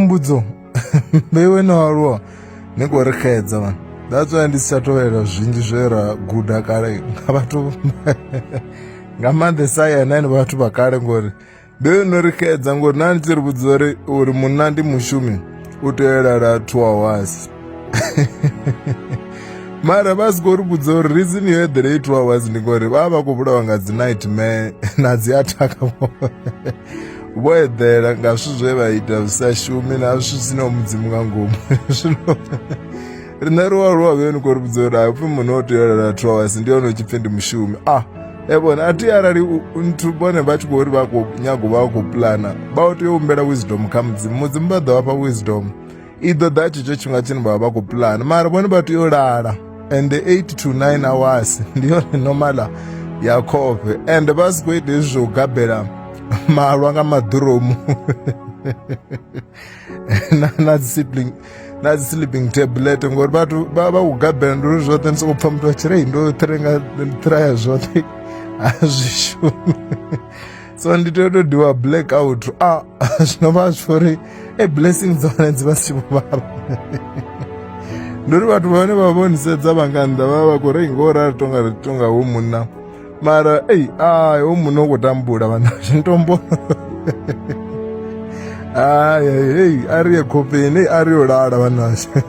mbudzo vheiwe no aluwa ni khou ri xedza vanhu that's why ndi si tsha tovhelela zwinzhi zwe ra guda kale nga vhathu nga maanḓesa yena ni vhathu vha kale ngori vheiwe no ri xedza ngori na ni tshi ri vhudza uri uri munna ndi mushumi u tea u lala two hours mara vha si khou ri vhudza uri reason yo eḓela i two hours ndi ngori vha vha vha khou vhulawa nga dzi nightmare na dzi athaka vho eḓela nga zwithu zwe vha ita zwi sa shumi na zwithu zwi sinaho mudzimu nga ngomu zwino riṋe ri wa ri wa vhe ni khou ri vhudza uri haipfhi muṋe o tea u lala two hours ndi hone u tshi pfhi ndi mushumi ah e vhone a thi arali u- u- nthu vhone vha tshi khou ri vha khou nyago vha khou pulana vha tea u humbela wisdom kha mudzimu mudzimu vha ḓo vha fha wisdom i ḓo ḓa tshetsho tshifhinga tshine vha vha vha khou pulana mara vhone vha tea u lala and the 8 to 9 hours ndi yone normala ya khofhe and vha si khou ita hezwi zwo gabela malwa nga maḓuromu na na dzi sibling na dzi sleeping tablet ngori vhathu vha vha u gabela ndi uri zwoṱhe ndi sokou pfha muthu a tshirei ndo thirenga ndi ṱiraya zwoṱhe a zwi shumi so ndi tea to diwa black out a ah, zwino vha zwi uri e blessing dza hone dzi vha si tshi vhala ndi uri vhathu vhane vha vhonisedza vha nga nnḓa vha vha khou ri ngo rali tonga ri tonga hu munna mara ei ai hu munna u khou tambula vhana zwi ntombo ai ei a ri ye khofheni a ri yo lala vhanashe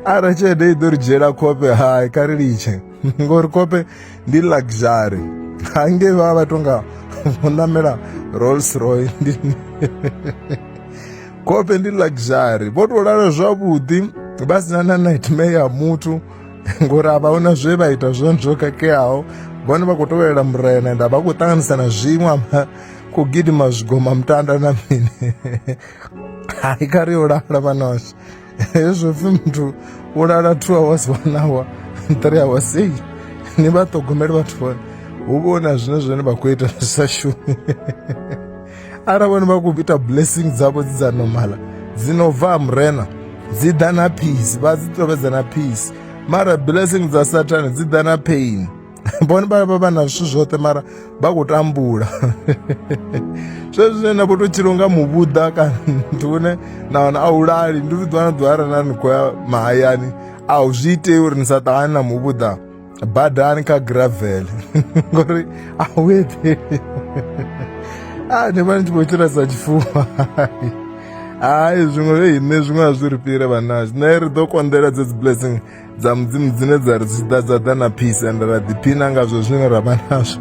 arali tshelede i ḓo ri dzhiela khofhe hai kha ri litshe ngori kope ndi luxury hange vha vha tonga vho ṋamela rolls roy ndi kope ndi luxury vho tou lala zwavhuḓi vha sina na nightmare ya muthu ngori a vha huna zwe vha ita zwone zwo khakheaho vhone vha khou tovelela murena ende a vha khou ṱanganisa na zwiṅwe ama ku gidima zwigoma mutanda na mini hai kha ri yo lala vhanoshe hezwo pfi muthu wo lala two hours one hour three hours ei ni vha ṱhogomeli vhathu vhone hu vhona zwine zwine vha khou ita zwi sa shumi arali vhone vha khou ita blessing dzavho dzi dza normala dzi no bva ha murena dzi ḓa na peace vha dzi tovhedza na peace mara blessing dza satani dzi ḓa na pain vhone vha vha na zwithu zwoṱhe mara vha khou tambula zwezwi zwine na vho to tshilo nga muvhuḓa kana muthu une na wana a u lali ndi vhuḓwa na ḓwara na ni khou ya mahayani a u zwi itei uri ni sa ṱahani na muvhuḓa badani kha gravel ngori a u eḓeli a ni vha ni tshi vho tshila sa tshifuwa hayi zwiṅwe zwe ine zwiṅwe a zwi ri fhire vhanazwi nṋe ri ḓo konḓela dzedzi blessing dza mudzimu dzine dza ri dzi ḓa dza ḓa na peace ende ra ḓiphina ngazwo zwine ra vha nazwo